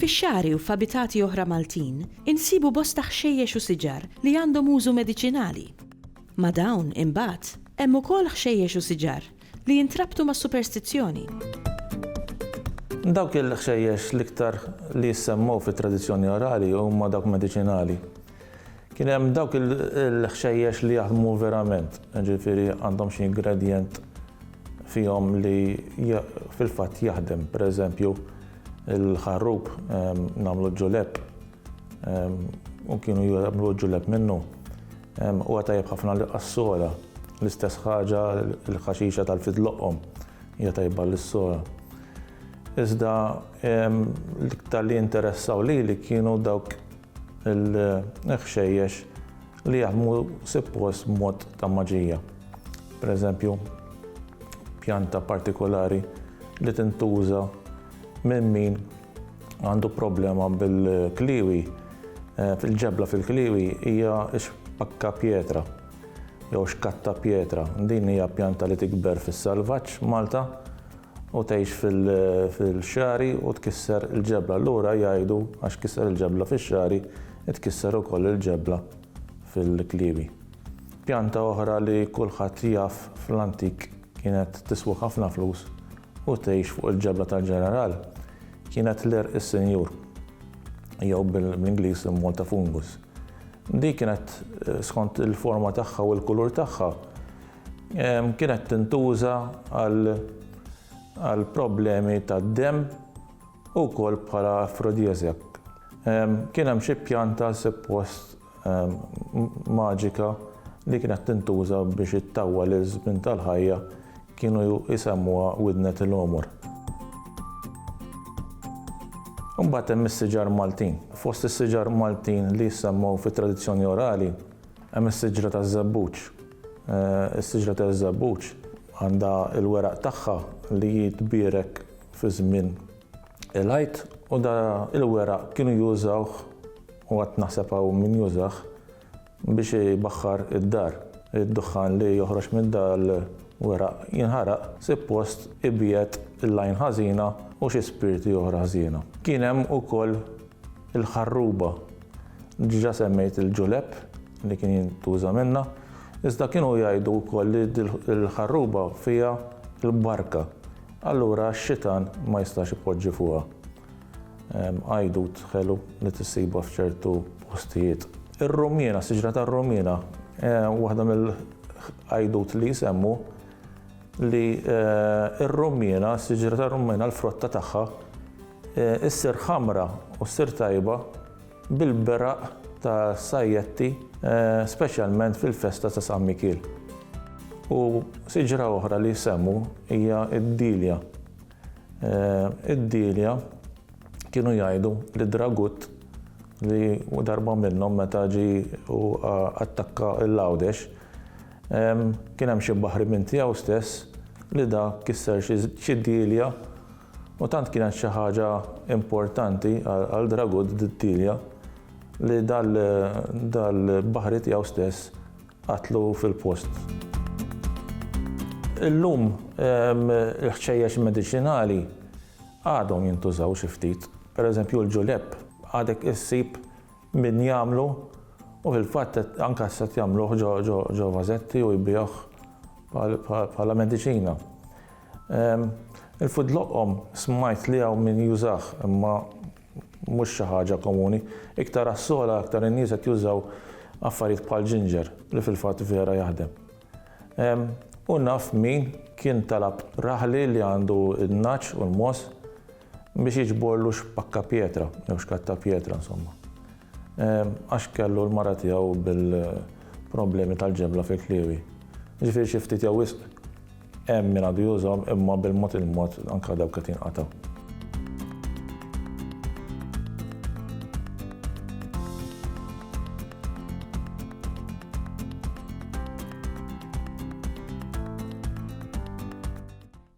Fix-xagħri u f'abitati oħra Maltin insibu bosta ħxejjex u siġar li għandhom użu mediċinali. Ma' dawn, imbagħad, hemm ukoll ħxejjex u siġar Li jintrabtu mas-superstizzjoni. Dawk il-ħxejjex l-iktar li jissemmew fit-tradizzjoni orali huma dawk mediċinali. Kien hemm dawk il-ħxejjex li jaħdmu verament, ġifieri għandhom xi ingredjent fihom li fil-fatt jaħdem, pereżempju il-ħarrub nagħmlu ġulep u kienu jgħamlu ġulleb minnu. U għatajab ħafna l-qassora, l-istess ħaġa l-ħaxixa tal-fidloqom, jgħatajba l-sora. Iżda l-iktar li interessaw li li kienu dawk il-ħxejjex li jaħmu sippos mod ta' maġija. Per eżempju, pjanta partikolari li tintuża minn min għandu problema bil-kliwi, eh, fil-ġebla fil-kliwi hija xpakka pietra jew xkatta pietra. Din hija pjanta li tikber fis-salvaġġ Malta u tgħix fil-xari u tkisser il-ġebla. Allura jgħidu għax kisser il-ġebla fix-xari, tkisser ukoll il-ġebla fil-kliwi. Pjanta oħra li kulħadd jaf fl-antik kienet tiswa ħafna flus U tgħix fuq il-ġebla tal-ġeneral, kienet ler is-sinjur, jew bl-Ingliż Malta fungus. Di kienet skont il-forma tagħha u l-kulur tagħha, kienet tintuża għal problemi tad-demm u wkoll bħala afrodiesiak. Kien hemm xi pjanta suppost maġika li kienet tintuża biex ittawwal iż-żmien tal-ħajja kienu jsemmuha widnet il-għomor. Imbagħad hemm is-siġar Maltin. Fost is-siġar Maltin li jissemmew fit-tradizzjoni orali hemm is-siġra taż-żebbuġ. Eh, is-siġra taż-żebbuġ għandha l-weraq tagħha li jitbierek fi żmien Il-ħajt u da il-weraq kienu jużawh u għad naħseb hawn min jużah biex ibaħħar id-dar. Id-duħħan li joħroġ minn da l-weraq jinħaraq sippost ibiegħed l-għajn ħażina u xi spirti oħra ħżiena. Kien hemm ukoll il-ħarruba. Diġà semmejt il-ġulep li kien jintuża minnha, iżda kienu jgħidu wkoll li l-ħarruba fiha l-barka. Allura x-xitan ma jistax ipoġġi fuqha għajdut ħelu li tissibha f'ċertu postijiet. Ir-rummiena, siġra tar-rummiena, waħda mill-għajdut li jsemmu li r-rummiena, siġra tar-rummiena l-frotta tagħha issir ħamra u ssir tajba bil-beraq ta' sajjetti speċjalment fil-festa ta' San Mikiel. U siġra oħra li jsemmu hija d-dilja. Id-dilja kienu jgħidu li dragut li darba minnhom meta ġi u attakka l-Għawdex kien hemm xi baħri minn tiegħu stess li da kisser xi dilja U tant kienet xi ħaġa importanti għal Dragut Delia li dal-baħri tiegħu stess qatlu fil-post. Illum il-ħxejjex mediċinali għadhom jintużaw xi ftit. Pereżempju l-ġulepp għadek issib min jagħmlu u fil-fatt anke issa qed jagħmluh ġo vażetti u jbigħuh bħala mediċina. Il-food loqom smajt li hawn min jużah imma mhux xi ħaġa komuni. Iktar għas-sogħla aktar in-nies qed jużaw affarijiet bħal ġinġer li fil-fatt vera jaħdem. U naf min kien talab raħli li għandu n-nagħaġ u l-mogħoż Biex jiġborlu x'pakka pjetra, jew x'katta pjetra insomma. Għax kellu l-mara tiegħu bil-problemi tal-ġebla fil-kliewi. Ġifieri xi ftit jew wisq hemm min għadu jużhom imma bil-mod il-mod anke dawk qed jinqatgħu.